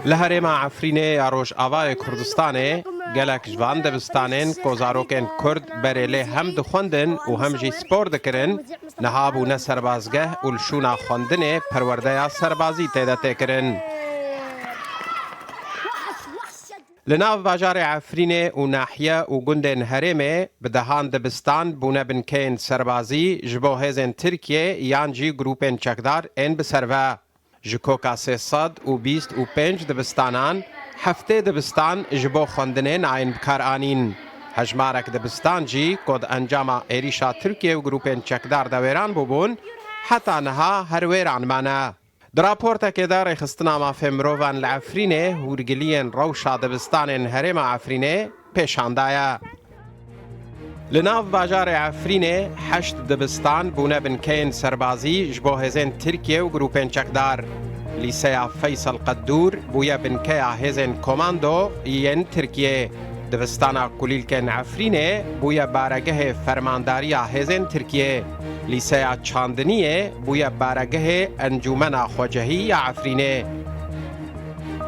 Li herêma Efrînê ya Rojavayê Kurdistanê gelek ji van dibistanên ku zarokên Kurd berê lê hem dixwendin û hem jî spor dikirin, niha bûne serbazgeh û li şûna xwendinê perwerdeya serbazî tê de tê kirin. Li nav bajarê Efrînê û nahiye û gundên herêmê bi dehan dibistan bûne binkeyên serbazî ji bo hêzên Tirkiyê yan jî grûpên çekdar ên bi ser ve. Ji koka sê sed û bîst û pênc dibistanan heftê dibistan ji bo xwendinê nayên bi kar anîn. Hejmarek dibistan jî ku di encama êrîşa Tirkiyê û grûpên çekdar de wêran bûbûn heta niha her wêran mane. Di raportekê de Rêxistina Mafên Mirovan li Efrînê hûrgiliyên rewşa dibistanên herêma Efrînê pêşan daye. Li nav bajarê Efrînê heşt dibistan bûne binkeyên serbazî ji bo hêzên Tirkiye û grûpên çekdar. Lîseya Feysel Qeddûr bûye binkeya hêzên komando yên Tirkiyê. Dibistana Kulîlkên Efrînê bûye baregehê fermandariya hêzên Tirkiyê. Lîseya Çandiniyê bûye baregehê Encûmena Xwecehî ya Efrînê.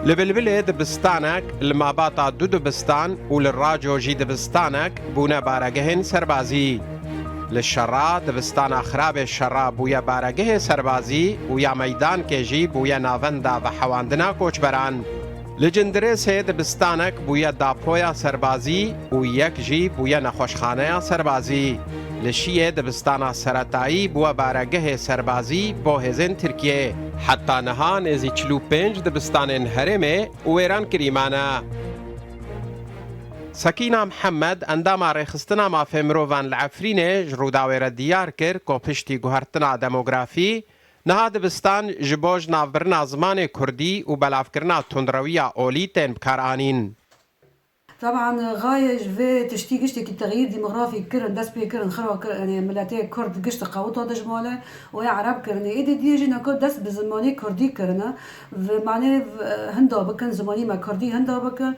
Li Bilbilê dibistanek, li Mabata du dibistan û li Raco jî dibistanek bûne baregehên serbazî. Li Şera dibistana Xirabê Şera bûye baregehê serbazî û ya Meydankê jî bûye navenda vehewandina koçberan. Li Cindirê sê dibistanek bûye dapoya serbazî û yek jî bûye nexweşxaneya serbazî. Li Şiyê dibistana seretayî bûwe baregehê serbazî bo hêzên Tirkiyê. Heta niha nêzî çil û pênc dibistanên herêmê wêran kirî mane. Sekîna Mihemed, endama Rêxistina Mafê Mirovan li Efrînê ji Rûdawê re diyar kir ku piştî guhertina demografî, Niha dibistan ji bo ji navbirina zimanê kurdî û belavkirina tundrewiya olî tên bikaranîn. Teban gaye ji vê tiştî giştekî texyîr dîmografîk kirin, dest pê kirin, xira kirin, miletê kurd gişt qewita dijmale û ya ereb kirin. Êdî diyê jî neka dest bi zimanê kurdî kirine, bi manê hinda bikin, zimanî me kurdî hinda bikin.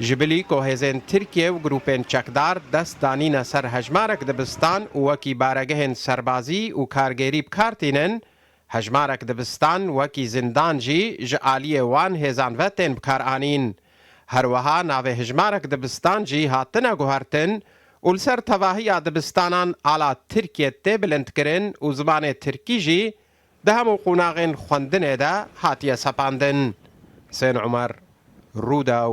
Ji bilî ku hêzên Tirkiye û grûpên çekdar dest danîne ser hejmarek dibistan û wekî baregehên serbazî û kargerî bi kar tînin, hejmarek dibistan wekî zindan jî ji aliyê wan hêzan ve tên bi kar anîn. Her wiha navê hijmarek dibistan jî hatine guhertin û li ser tevahiya dibistanan ala Tirkiye tê bilindkirin û zimanê Tirkî jî Di hemû qonaxên xwendinê de hatiye sepandin. Husên Umer, Rûdaw,